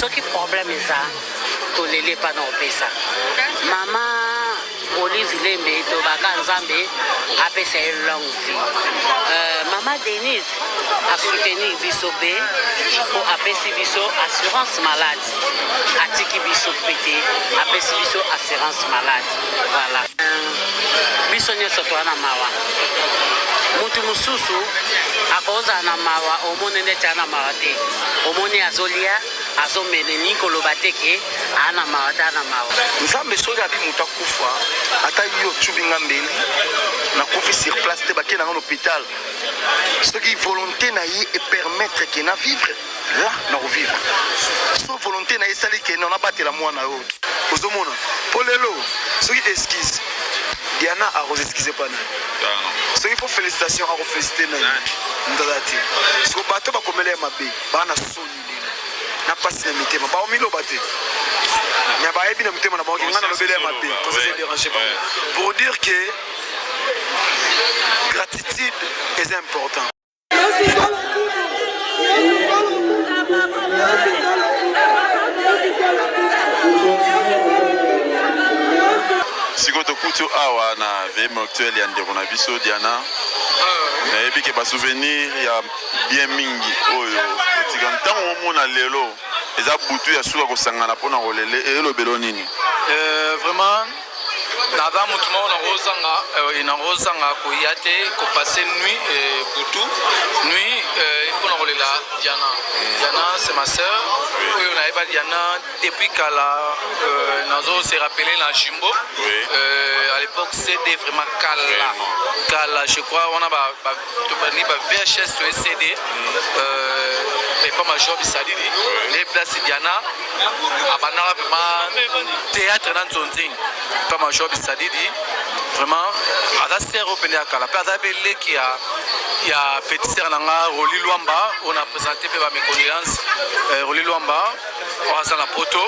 soki problème eza toleli epa na opesa mama olive lembe tobaka nzambe apesa ye longue vie euh, mama denise asoutenir biso mpe mpo apesi biso assurance malade atiki biso pete apesi biso assurance malade voilà biso nyonso toa na mawa mutu mosusu akozala na mawa omoni ndeti ana mawa te omoni azolia azomele ni koloba te ke ana mawa te ana mawa nzambe soki abi moto akufa ata yo ocubi nga mbeli nakufi sur place te bakenda nga na hôpital soki volonté na ye epermettre ke na vivre la na kovivre so volonté na esali ke na nabatela mwana yo ozomona mpo lelo soki esquise diana akozeskize mpa nani soki mpo félicitation akofelicite nani ndala te siko bato bakomela ya mabe baa na soni lelo na mpasi na mitema baomiloba te me bayebi na mitema na bango kenga na lobele ya mabe kozederange bango pour dire que gratitude est important sikoyo tokuti awa na vie mortuelle ya ndeko na biso diana nayebi ke basouvenir ya bien mingi oyo otika ntango omona lelo eza butu ya suka kosangana mpo na kolele elobelo nini eh, vraiment naza motu moko nakozanga euh, nakozanga koya te kopase nuit euh, butu nuit euh, mpo na kolela diana diana c'est ma sœur oyo nayeba diana depuis kala nazo se rappele na jumbo à l'époque cd vraiment kala kala je crois wana ba tobandi ba vhs to ecd euh, epa major bisalili le place diana abandaka mpema théâtre na nzonzing epa major bisalili vraiment aza sere oyo mpene ya kala mpe aza mpe leki ya ya petit sere na nga roli lwamba oyo na présente mpe ba méconnaissance euh, roli lwamba oyo aza na poto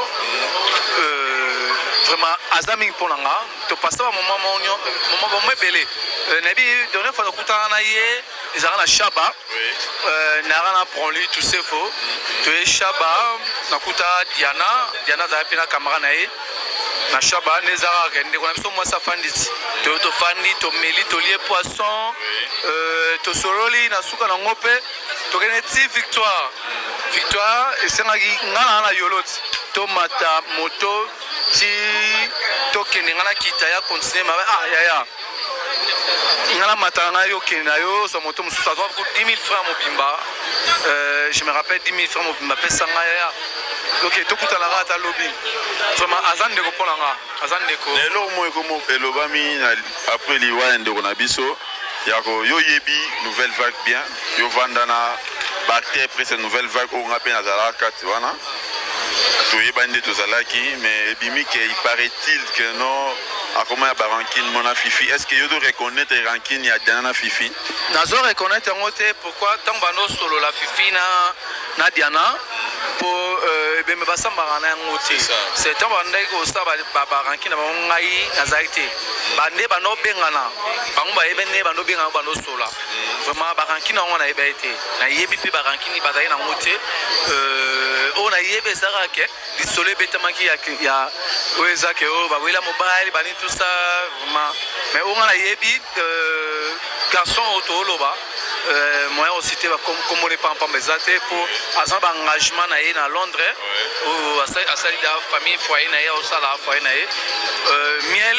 euh, vraiment aza mingi mpo na nga To pasta ba moment monyo, moment ba mebele. Euh, na bi donne fois nakutana na ye, ezaka na Shaba. Oui. Euh, na rana prend lui tout ce faut. To ye Shaba, nakuta Diana, Diana za pe na camera na ye. Na Shaba ne zara kende kona biso mwasa fanditi. To to fandi, to meli, to lie poisson. Euh, to sololi na suka na ngope. To kene ti victoire. Victoire esengaki ngana na yoloti. To mata moto ti tokende nga nakita ya continue mabe ah yaya nga namata na ngai okende na yo ozwa moto mosusu azwa 10 000 francs mobimba euh, je me rappelle 10 000 francs mobimba apesa nga yaya oke tokutana kaka ata lobi vraimen aza ndeko mpo na nga aza ndeko na eloko moko ekomo elobami apres liwa ya ndeko na biso yako yo oyebi nouvelle vague bien yo vanda na baacteur prese nouvelle vague oyo nga mpe nazalaka kati wana toyebani nde tozalaki mais ebimi ke il paraît-il que non akoma ya barankine mona fifi est ce que yo to reconnaître rankine ya diana na fifi nazo reconnaître yango te pourquoi ntango banda osolola fifi na, na diana mpo euh, ebembe basambaka na yango te se ntango bandaki kosala baranki na bango ngai nazalaki te bande banda obengana bango bayebi nde banda obengana banda osola vraiment barankine yango nayeba ye te nayebi mpe barankine bazali nango te euh, oyo nayebi ezalaka ke lisolo ebetamaki ya oyo eza ke oyo oh, bawela mobali bani tout ça vraiment mais oyo nga nayebi euh, garçon oyo tooloba euh, moyen osite bakombona epampamba eza te mpo aza baengagement na ye na londres oyo asali da famille foyer na ye aosala foyer na ye miel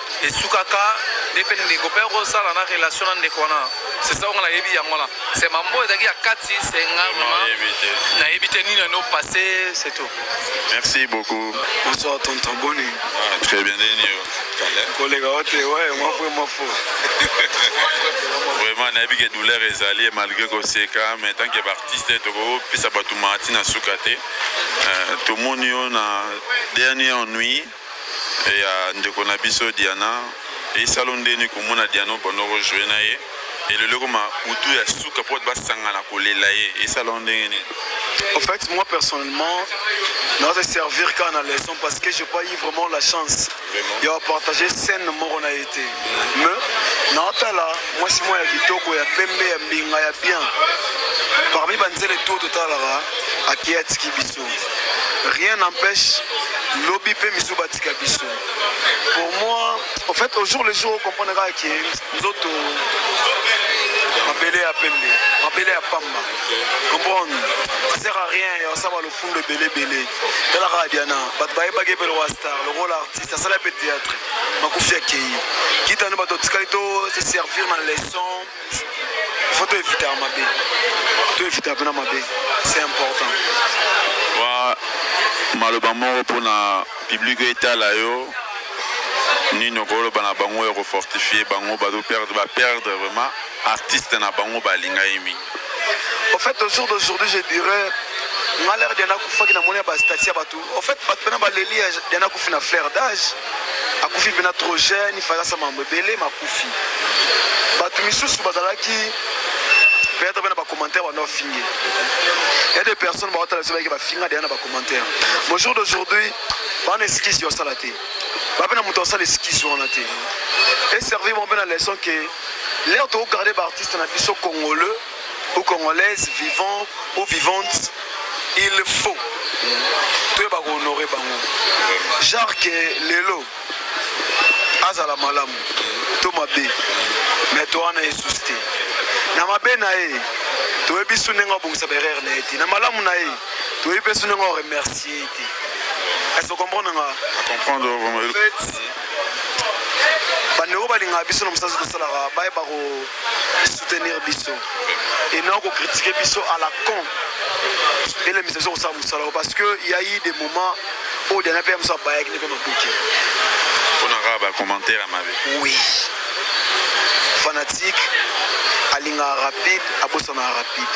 esukaka nde mpe ndeko mpe akosala na relation na ndeko wana sesa onga nayebi yango wana se mambo ezalaki ya kati se nga nayebi te nini ano passe c'est tout merci beaucoup bonsoir tonton boni ah, très bien nini yo koleka ote ouais moi vraiment faux vraiment nayebi ke douleur ezali malgré koseka mais tant que baartiste tokopesa bato maati na suka te euh, tomoni yo na dernier ennui et ya ndeko na biso Diana esalo ndeni komona Diana obanda ko jouer na ye et lelo ekoma butu ya suka po ba sangana kolela ye esalo ndenge nini En fait, moi personnellement, dans ce servir qu'à la leçon parce que j'ai pas eu vraiment la chance de partager scène moko on a été. Mais dans ta là, moi c'est moi qui toko ya pembe ya binga ya bien. Parmi banzele tout totalara à qui a tiki biso. rien n'empêche lobi pe misu batika biso pour moi en fait au jour le jour okomprendre kaka ke nzoto mabele ya pembe mabele ya pamba comprendre sert à rien ya osaba lofundo ebelebele tala kaka diana bato bayebaki epele wa star lokola artiste asala mpe théâtre makufi akei kita nde bato otikali to se servir na leçon faut toevita ya mabe toevita mpena mabe c'est important wa maloba moko mpona publike etala yo nini okoloba na bango ya kofortifie bango bazoperdre baperdre vraiment artiste na bango balinga ye mingi au fait au jour d'aujourd'hui je dirais nga lere dia nakufaki na moni ya bastati ya bato En fait, bato pena baleli ya Diana akufi na flair d'âge, akufi pena trop jeune, il fallait sa mambo ebele makufi. Bato misusu bazalaki peut-être pena ba commentaires bana ofingi. Il y a des personnes ba otala soba ba finga Diana ba commentaires. Au jour d'aujourd'hui, bana esquisse yo sala te. Ba pena moto sala esquisse yo na te. Et servir mon pena leçon que l'air to garder ba artistes na biso congolais ou congolaise vivant ou vivante il faut toyeba kohonore bango genre ke lelo azala malamu to mabe me to wana esusi te na mabe na ye toyebi su ndenge abongisa baerreur na ye te na malamu na ye toyebi mpe su ndenge oremercie ye te ese okomprendre nga bandeko balingaka biso na mosala tosalaka bayeba ko soutenir biso et non ko critiquer biso à la con elemisa biso kosala mosala yango parce que ya yi des moments oyo dana mpe ya mosu abayaki nde mpe maboke mpona kaka bacommentaire ya mabe oui fanatique alingaka rapide abosanaka rapide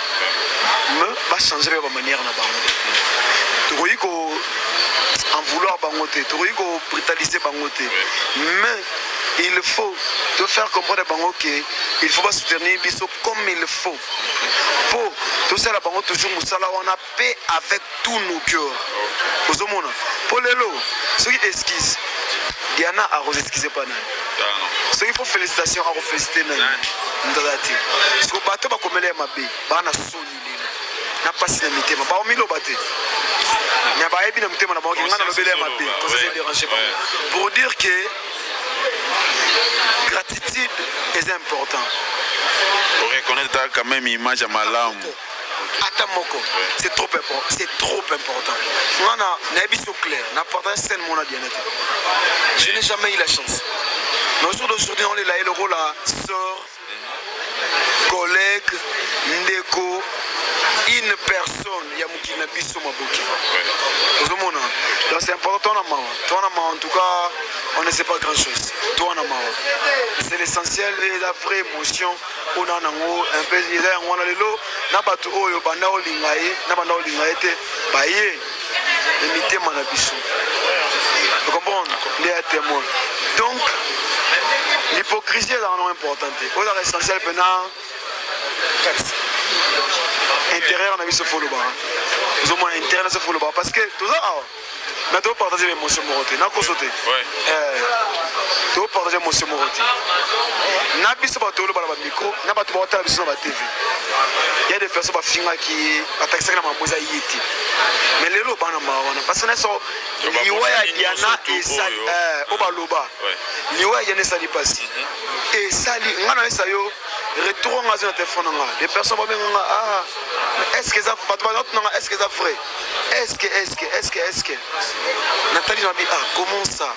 me bachange mpe bamanière na bango tokoki ko en vouloir bango te tokoki ko brutaliser bango te mais il faut to faire comprendre bango ke il faut basoutenir biso comme il faut mpo tosala bango toujours mosala wana mpe avec tout nos cœur ozomona mpo lelo soki esquise diana akoseskize mpa nani soki mpo félicitation akofélicite nani ndala te siko bato bakomela ye mabe bana soni na pasi na mitema baomiloba te mais bayebi na mitema na bango kenga na lobele ya mabe tozozo dérange bango pour dire que gratitude est important oreconnaitre quand même image ya malamu ata moko c'est trop important c'est trop important nga na nayebi so clair na partage scène mona diana te je n'ai jamais eu la chance mais aujourd'hui on est là et le rôle à sort collègue ndeko une personne ya mokili na biso maboki ozomona donc c'est important na mawa toi na mawa en tout cas on ne sait pas grand chose toi na mawa c'est l'essentiel et la vraie émotion on a nango un peu eza yango wana lelo na bato oyo banda olinga ye na banda olinga ye te baye na mitema na biso comprendre nde ya témoin donc l'hypocrisie ezala no important te oyo ezaka essentiel mpena kati intérieur na biso folobaka ozomona intérieur na biso folobaka parce que toza awa mais topartage ba émotion moko te nakoso te topartage émotion moko te na biso bato olobala bamicro na bato baotala biso na batv ya de personne bafingaki ye atakisaki na makambo eza ye te me lelo bana mawa wana basi na so liwa ya diana esali oyo eh, baloba liwa ya diana esali mpasi mhm. esali ngai nayesa yo retour anga azwi na telefone na ngai de personne babenga nga ah eske eza bato banatu na ngai eske eza vrai eske eske eske eske natali na bi ah comment ça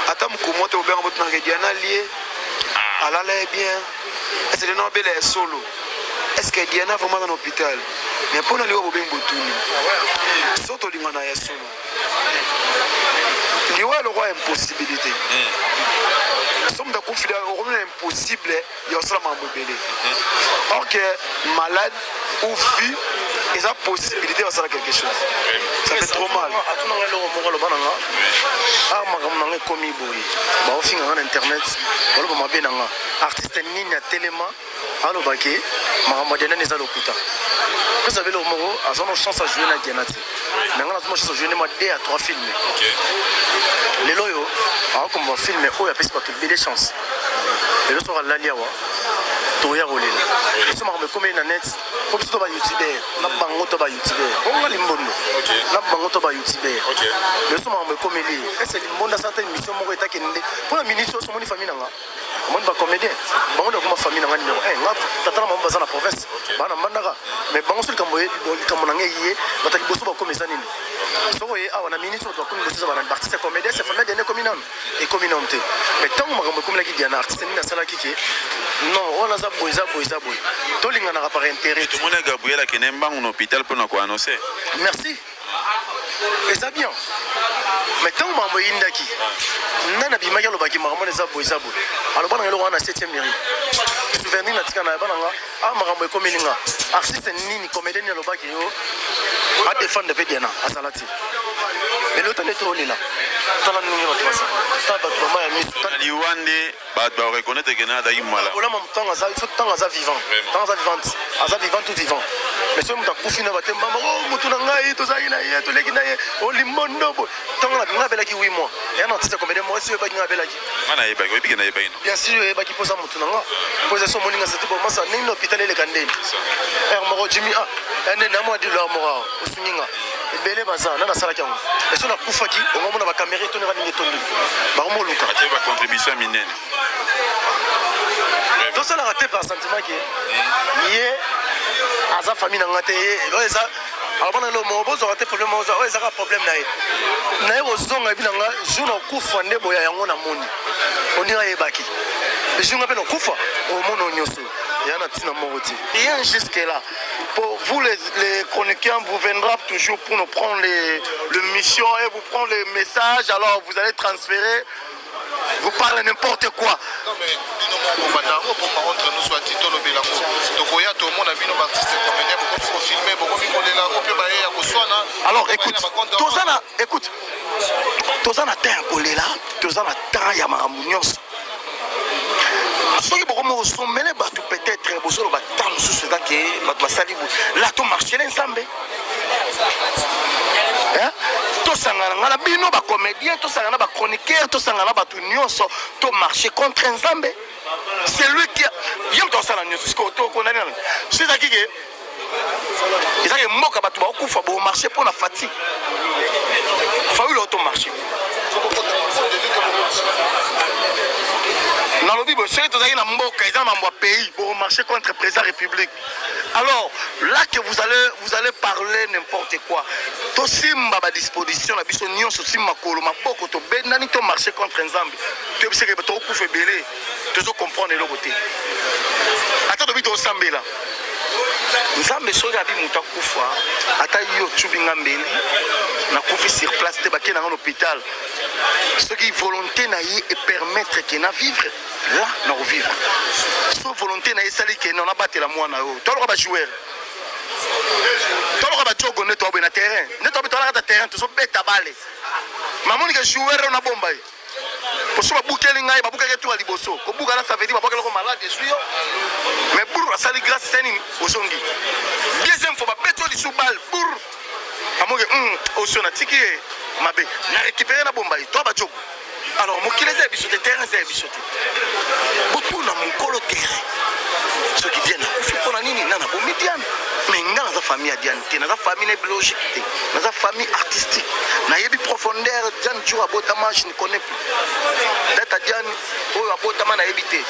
ata mokumo te obenga botunaka diana lie ah. alala ye bien Selena obela ya solo. Est-ce que Diana vraiment dans l'hôpital? Mais pona liwa bobengi botuni. So tolingana ya solo. Liwa eloko impossibilité. Hmm. So moto akufila okomi na impossible ya kosala makambo ebele. Hmm. Or que malade ou vie eza possibilité basala quelque chose ça fait trop mal atuna ngai eloko moko aloba na nga a ah, makambo na nga ekomi boye baofinga nga na internet baloba mabe na nga artiste nini atelema alobaki makambo ya diana eza lokuta pesa belo moko aza na chance ajoue na diana te me nga nazomona soso journée mwa 2 ya 3 filme lelo oyo akokomba filme oyo apesi bato ebele chance lelo soki alali awa toya kolela biso makambo ekomeli na net po biso to ba youtubeur na bango to ba youtubeur bonga limbondo na bango to ba youtubeur lelo so makambo ekomeli ese limbondo asala ta émission moko etakende mpo na minisi oyo somoni famille na nga omoni ba comédien bango nde bakoma famille na ngai numero 1 nga tata na mama baza na province bana mbandaka mais bango so likambo likambo na ngai ye bato ya liboso bakomi eza nini soko ye awa na minute bato bakomi liboso eza bana baartiste ya comédien se famille diana ekomi nano ekomi nano te mais ntango makambo ekomelaki diana artiste nini asalaki ke non wana aza boye eza boye eza boye tolinganaka par intérêt tomoni gabriel akende mbangu na hôpital mpo na koannonce merci eza bien me ntango makambo eyindaki nani abimaki alobaki makambo wana eza boye eza boye aloba nanga eloko wana na 7 mairie souvenir na tika na yaba nanga a ah, makambo ekomeli nga artiste nini comédien nini alobaki yo adefendre mpe diana azala te lelo tande tolela tala ndenge bato basa tala bato bama ya miso liwa nde Ba ba reconnaître que na azalaki mala. Ola mamu tango aza il faut tango aza vivant. Tango aza vivante. Aza vivant tout vivant. Mais soki moto akufi na bate mama oh moto na ngai tozalaki na ye toleki na ye olimondo bo. Tango na nga abelaki 8 mois. Ya na tisa combien de mois soki ebaki nga abelaki. Nga na yebaki oyebi ke na yebaki no. Bien sûr oyebaki poza moto na nga. Poza so moninga sete bo masa nini na hôpital eleka ndeni. Er moko Jimmy ah. Ene na mwa dilo moko. osungi nga ebele baza nani asalaki yango eso nakufaki ongo mona bakamera etondaka ndenge etondi bakomi oluka ate bacontribution ya minene tosalaka te par sentiment ke hmm. ye aza famille na nga te ye oyo eza alobana lelo moko bozwaka te problème oza oyo ezaka problème na ye naye kozonga ebi na nga jour na okufa nde boya yango na moni ondinga ayebaki jour nga mpe na okufa omono nyonso ya na ntina moko te rien jusque là Pour vous les, les chroniqueurs, vous viendra toujours pour nous prendre les, les missions et vous prendre les messages, alors vous allez transférer vous parlez n'importe quoi non mais bino moko banda yango mpo par contre nous soit tito lobela ngo tokoya tomona bino baartiste comédien bokomi kofilme bokomi kolela ngo mpe baye ya koswana alors écoute toza na écoute toza na temps ya kolela toza na temps ya makambo nyonso soki bokomi kosomele bato peut-être bozoloba ntango mosusu eza ke bato basali la to marchele nzambe tosangana nga na bino bacomédien tosangana na bachroniqueur tosangana na bato nyonso to marché contre nzambe celui qui ye moto asala nyonso sikoyo tokondani nano so ezalaki ke eza ye mboka bato bakokufa bo marché mpo na fati faule auto marché nalobi boye soki tozalaki na mboka eza mambo ya pays bo marché contre président république alors là que vous allez, vous allez parler n'importe quoi tosimba badisposition na biso nyonso simba makolo maboko tobendani to marché contre nzambe toyebiseke tokokufa ebele tozo comprendre eloko te ata tobi tosambela nzambe soki abi moto akufa ata yo ocubi nga mbeli nakufi sur place te bakei na nga na hôpital soki volonté na ye epermettre ke na vivre la na kovivre so volonté na ye esali ke na nabatela mwana oyo toloka bajoueur toloka bajogo nde toaboye na terrain nde toabe tolakata terrain tozobeta bale mamonike joueur oyo nabomba ye Parce que babukeli ngai babukaki etuka liboso kobuka na savedi babwaki eloko malade ezwi yo mais bur asali grâce te nini ozongi deuxième fois babeti yo lisu bal bur amoke hmm, osio natiki ye mabe na récupéré na bombai to bajogo alors mokili eza ya biso te terrain eza ya biso te botuna mokolo terrain soki diane akufi mpo na nini nga nabomi diane mais nga naza famille ya diane te naza famille na biologique te naza famille artistique nayebi profondeur diane jour abotama je ne connais plus data diane oyo abotama nayebi te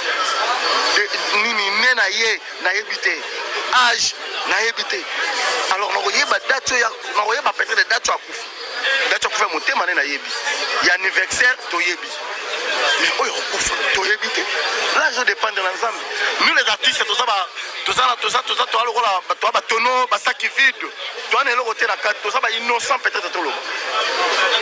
nini ne na ye nayebi te age nayebi te alors nakoyeba date oyo nakoyeba peut-être date oyo akufi date akufa motema ne nayebi ya anniversaire toyebi mais oyo akufa toyebi te là je dépendre na nzambe nous les artistes toza toza toza toza lokola bato ya batono basaki vide toza na eloko te na kati toza ba innocent peut-être toloba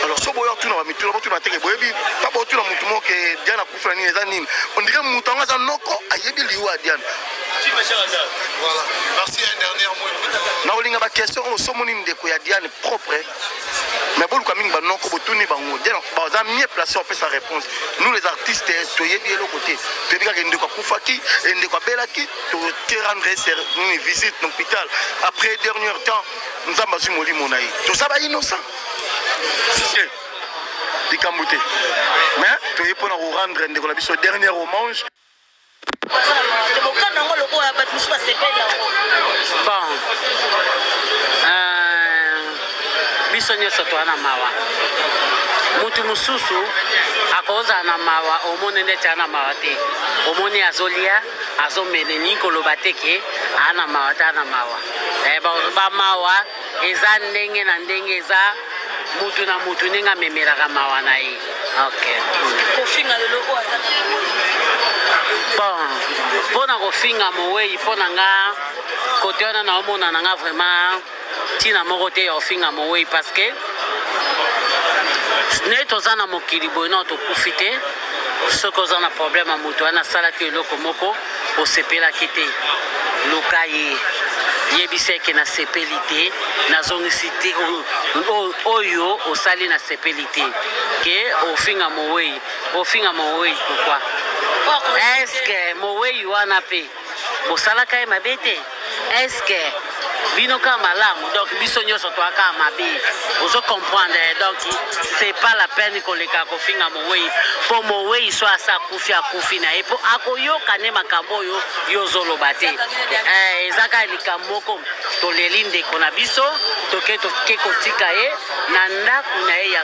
alors so boya otuna bamituna botuna teke boyebi ta botuna motu moko ke diana akufi na nini eza nini ondike motu yango aza noko ayebi liyo ya diana nakolinga baquestion oyo somoni ndeko ya diane propre mais boluka mingi banoko botuni bango baza mie place opesa réponse nous les artistes toyebi eloko te toyebi kaka ndeko akufaki ndeko abelaki toterandrese nini visite na hôpital après dernier temps nzambe azwi molimo na ye toza ba innocent likambo te mais toye mpo na korendre ndeko na biso dernier hommage tokokana yango lokola bato mosusu basepeli yango bon euh, biso nyonso toa na mawa motu mosusu akozala na mawa omoni neti ana mawa te omoni azolia azo menelingi koloba te ke aa na mawa ta na mawa eh, bamawa eza ndenge na ndenge eza mutu na mutu ndenge amemelaka mawa na ye okay. kofinga lelo oyo aza na bon mpo na kofinga mowei mpo na nga kote wana naomona na nga vraiment Tina moko te ya ofinga mowei parce que ne toza na mokili boye nao tokufi te soki oza na problème ya moto wana asalaki eloko moko osepelaki te luka ye yebisa eke nasepeli te nazongisi te oyo osali nasepeli te ke ofinga mowei ofinga mowei pourkui eske mowei wana mpe bosalaka ye mabe te eske bino kaka malamu donc biso nyonso toaka mabe ozo comprendre donc c'est pas la peine koleka kofinga mowei mpo mowei so asa akufi akufi na ye mpo akoyoka nde makambo oyo yo ozoloba te eh, eza kaka likambo moko toleli ndeko na biso toke toke kotika ye na ndako na ye ya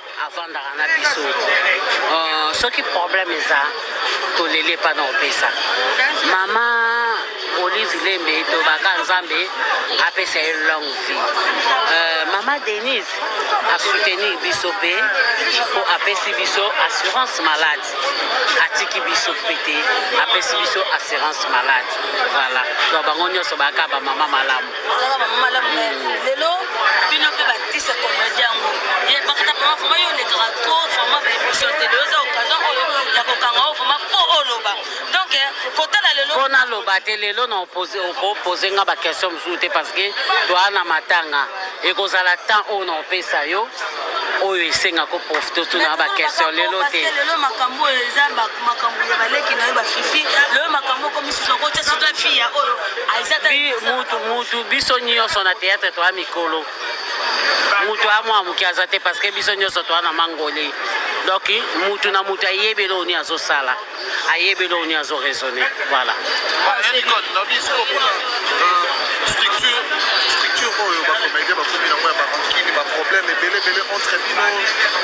avandaka na biso uh, soki problème eza toleli epa na opesa mama olive lembe tobaka nzambe apesa ye long vie uh, mama denise asoutenir biso mpe mpo apesi biso assurance malade atiki biso mpe te apesi biso assurance malade voilà donc bango nyonso baka bamama malamu ozalaka mama malamu me lelo bino mpe batisa komedi yango ye bakata mama vraimen yo olekaka tro vraimen baemission te lelo eza okazan oyo ya kokanga o vraimen mpo oloba donk eh, kotala lelo mpo naloba te lelo na opose nga baquestion mosusu te parce que toa na matanga ekozala temps oyo na opesa yo oyo esenga ko profite otuna ba question lelo te lelo makambo oyo eza makambo ya baleki na yo bafifi lelo makambo okomisusu okotya soki afi ya oyo mutu mutu biso nyonso na théâtre toya mikolo mutu amwa moke aza te parce que biso nyonso toya na mangoli donc mutu na mutu ayebeli oyo nini azosala ayebi eloko nini azo raisonne voilà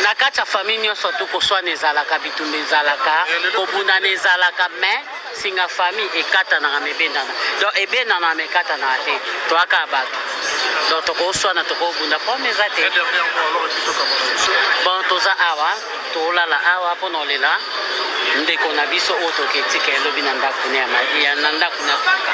na kati ya famille nyonso tu koswana ezalaka bitumba ezalaka kobundana ezalaka mais singa famille ekatanaka ma ebendana donc ebendana ma ekatanaka te toyaka bato donc tokoswana tokobunda problème eza te bon toza awa Tolala awa mpo na olela ndeko na biso oyo toketika elobi na ndako na ndako na kuka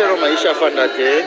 Marcelo Maisha Fandate.